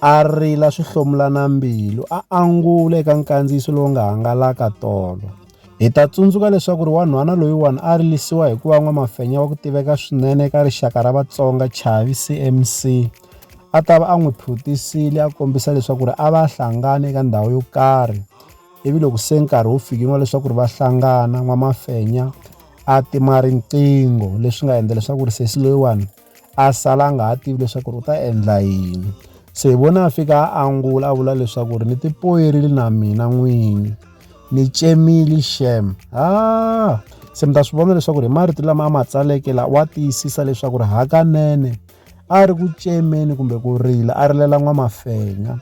a rila swi hlomulana mbilu a angula eka nkandziyiso lowu nga hangalaka tolo hi ta tsundzuka leswaku ri wanhwana loyiwani a rilisiwa hi ku va n'wamafenya wa ku tiveka swinene eka rixaka ra vatsonga chavi cmc a ta va a n'wi phuthisile a kombisa leswaku ri a va hlangana eka ndhawu yo karhi ivi loko se nkarhi wu fikini wa leswaku ri va hlangana n'wamafenya a tima riqingho leswi nga endla leswaku ri sesi loyiwani a sala a nga ha tivi leswaku ri u ta endla yini se hi vona a fika a angula a vula leswaku ri ni tipoyerile na mina n'wini ni tsemile xem ha se mi ta swi vona leswaku ri hi marito lama a ma tsaleke la wa tiyisisa leswaku ri hakanene a ri ku tsemeni kumbe ku rila a rilela n'wamafenya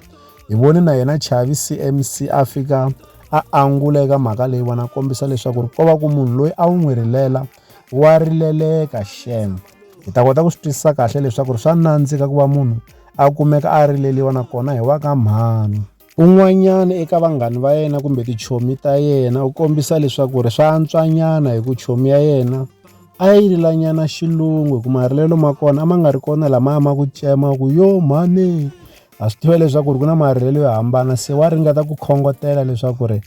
hi vone na yena chavi cmc a fika a angula eka mhaka leyi vona kombisa leswaku ri ko va ku munhu loyi a wu n'wi rilela Wa rileleka xem. Hi ta kota ku swi twisisa kahle leswaku swa nandzika ku va munhu a kumeka a rileliwa nakona hi wa ka mhani. Un'wanyana eka vanghani va yena kumbe tichomi ta yena u kombisa leswaku ri swa antswanyana hi ku chomi ya yena a yi rilanyana xilungu hi ku marilelo ma kona a ma nga ri kona lama a ma ku tsema ku yo mhani ha swi tiva leswaku ri ku na marhelelo yo hambana se wa ringeta ku khongotela leswaku ri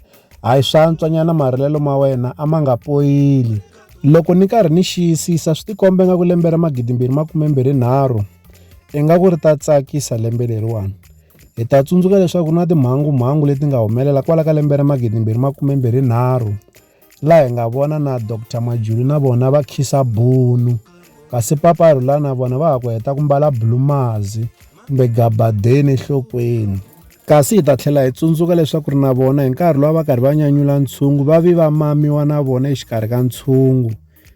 hayi swantswanyana marhelelo ma wena a ma nga poyili loko ni karhi ni xiyisisa swi tikombe nga ku lembe ra magidimbirhi makumembirhi nharhu ingaku ri ta tsakisa lembe leriwani hi ta tsundzuka leswaku na timhangu mhangu leti nga humelela kwala ka lembe ra magidimbirhi makumembirhi nharhu la hi nga vona na Dr Majuli na vona va khisa bunu kasi papa rhula na vona va ha ku heta ku mbala bulumazi kumbe gabadeni enhlokweni kasi hi ta tlhela hi tsundzuka leswaku ri na vona hi nkarhi lowu va karhi va nyanyula ntshungu va vi va mamiwa na vona exikarhi ka ntshungu